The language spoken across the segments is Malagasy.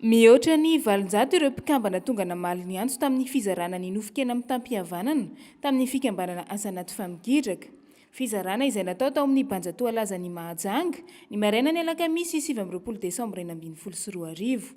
Mihoatra ny valonjato ireo mpikambana tonga namaly ny antso tamin'ny fizarana ny nofon-kena mitam-pihavanana tamin'ny fikambanana Asa Anaty Famigidraka. Fizarana izay natao tao amin'ny Banja Toalazan'i Mahajanga, ny marainan'ny alakamisy sivy amby roapolo desambra enina ambin'ny folo sy roa arivo.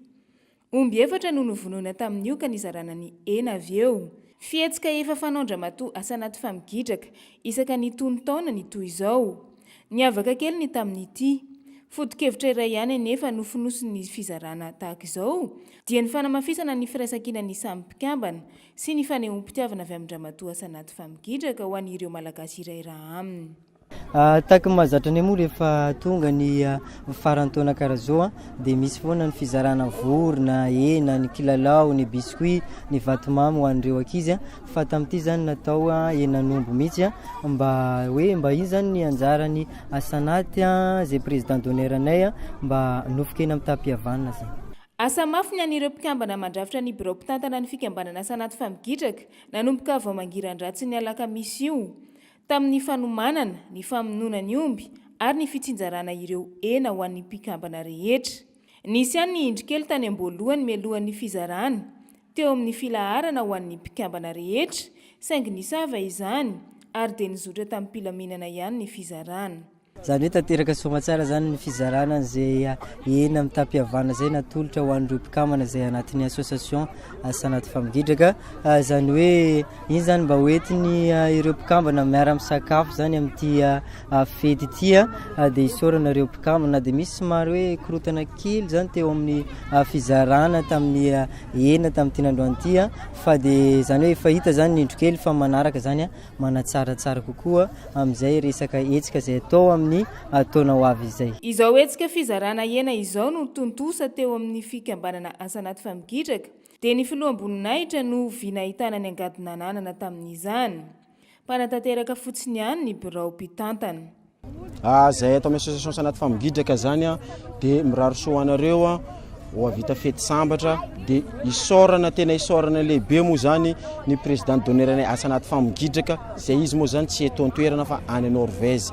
Omby efatra no novonoina tamin'io ka nizarana ny hena avy eo. Fihetsika efa fanaon-dRamatoa Asa Anaty Famigidraka isaka ny tonon-taona ny toy izao. Niavaka kely ny tamin'ity. Foto-kevitra iray ihany anefa no fonosin'ny fizarana tahaka izao, dia ny fanamafisana ny firaisankinan'ny samy mpikambana sy ny fanehoam-pitiavana avy amin-dRamatoa Asanaty Famigidraka ho an'ireo Malagasy iray ra aminy. Tahaka ny mahazatra anay moa rehefa tonga ny faran'ny taona karaha izao dia misy foana ny fizarana vorona, hena, ny kilalao, ny biscuits, ny vatomamy ho an'ireo ankizy. Fa tamin'ity izany natao henan'omby mihitsy mba hoe mba iny izany ny anjaran'ny Asanaty izay président d'honneur-nay mba nofon-kena amin'ny tapi-havanana izay. Asa mafy ny an'ireo mpikambana mandrafitra ny birao mpitantana ny fikambanana Asanaty fa migidraka nanomboka vao mangiran-dratsin'ny alakamisy io tamin'ny fanomanana, ny famonoana ny omby ary ny fitsinjarana ireo hena ho an'ny mpikambana rehetra. Nisy ihany ny indrokely tany am-boalohany mialohan'ny fizarana teo amin'ny filaharana ho an'ny mpikambana rehetra, saingy nisava izany ary dia nizotra tamim-pilaminana ihany ny fizarana. Izany hoe tanteraka soamatsara izany ny fizarana an'izay hena mitam-pihavana izay natolotra ho an'ireo mpikambana izay anatin'ny association Asa Anaty Famingidraka. Izany hoe iny izany mba hoentiny ireo mpikambana miara-misakafo izany amin'ity. fety ity dia isaorana ireo mpikambana na dia misy somary hoe korontana kely izany teo amin'ny fizarana tamin'ny enina tamin'ity nandroany ity fa dia izany hoe efa hita izany ny indro kely fa manaraka izany manatsaratsara kokoa amin'izay resaka hetsika izay atao amin'ny taona ho avy izay. Izao hetsika fizarana hena izao no tontosa teo amin'ny fikambanana Asanaty Famigidraka dia ny filoham-boninahitra no vy nahitana ny angady nananana tamin'izany. Mpanatanteraka fotsiny ihany ny birao mpitantana. Izay ato amin'ny association Sanat Famingidraka izany dia mirary soa ho anareo, ho hahavita fety sambatra, dia isaorana tena isaorana lehibe moa izany ny président d'honneur anay Sanat Famingidraka izay izy moa izany tsy eto an-toerana fa any Norvège.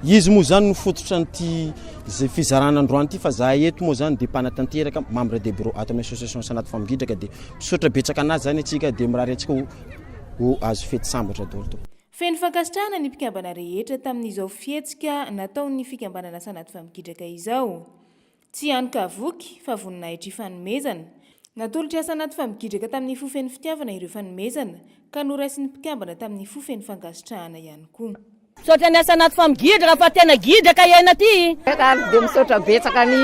Izy moa izany no fototra an'ity izay fizarana androany ity fa izahay eto moa izany dia mpanatanteraka, membre de bureau ato amin'ny association Sanat Famingidraka dia misaotra betsaka an'azy izany antsika dia mirary antsika ho ho azo fety sambatra daholo tompoko. Feno fankasitrahana ny mpikambana rehetra tamin'izao fihetsika nataon'ny fikambanana Sanatry Vamingidraka izao. Tsy hany ka voky, fa voninahitr' y fanomezana. Natolotr' i Sanatry Vamingidraka tamin'ny fo feno fitiavana ireo fanomezana, ka noraisin'ny mpikambana tamin'ny fo feno fankasitrahana ihany koa. Misaotra niasa anaty fam gidra raha fa tena gidra ka iaina ty. Ary dia misaotra betsaka an' i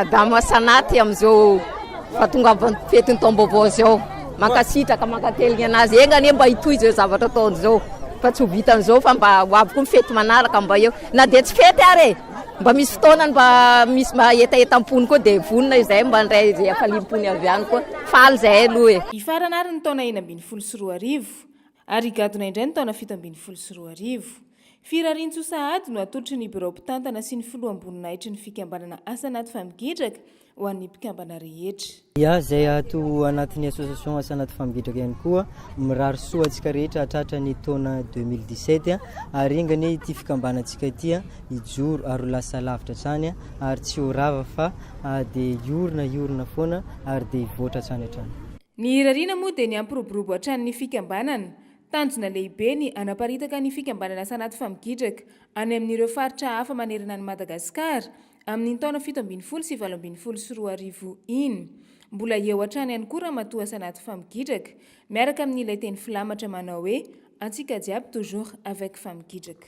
Adama Asanaty amin'izao fahatongavan'ny fetin'ny taom-baovao izao. Mankasitraka, mankateligna anazy. Enga anie mba hitohy izao zavatra ataony izao fa tsy ho vitan'izao fa mba ho avy koa ny fety manaraka mba eo. Na dia tsy fety ary e! Mba misy fotoanany mba misy mba hetahetam-pony koa dia vonona izahay mba handray izay hafaliam-pony avy any koa. Faly izahay aloha e! Hifarana ary ny taona enina ambin'ny folo sy roa arivo. Ary higadona indray ny taona fito ambin'ny folo sy roa arivo. Firariantsoa sahady no atolotry ny birao mpitantana sy ny filoham-boninahitry ny fikambanana Asa Anaty Famigidraka ho an'ny mpikambana rehetra. Iah izay ato anatin'ny association Asa Anaty Famigidraka ihany koa, mirary soa antsika rehetra hahatratra ny taona deux mille dix sept ary enga anie ity fikambanantsika ity hijoro ary ho lasa lavitra hatrany ary tsy ho rava fa dia hiorina hiorina foana ary dia hivoatra hatrany hatrany. Ny irariana moa dia ny hampiroborobo hatrany ny fikambanana. Tanjona lehibe ny hanaparitaka ny fikambanana Sanaty Famigidraka any amin'ireo faritra hafa manerana an'i Madagasikara amin'iny taona fito ambin'ny folo sy valo ambin'ny folo sy roa arivo iny. Mbola eo hatrany ihany koa Ramatoa Sanaty Famigidraka miaraka amin'ilay teny filamatra manao hoe Antsika jiaby toujours avec Famigidraka.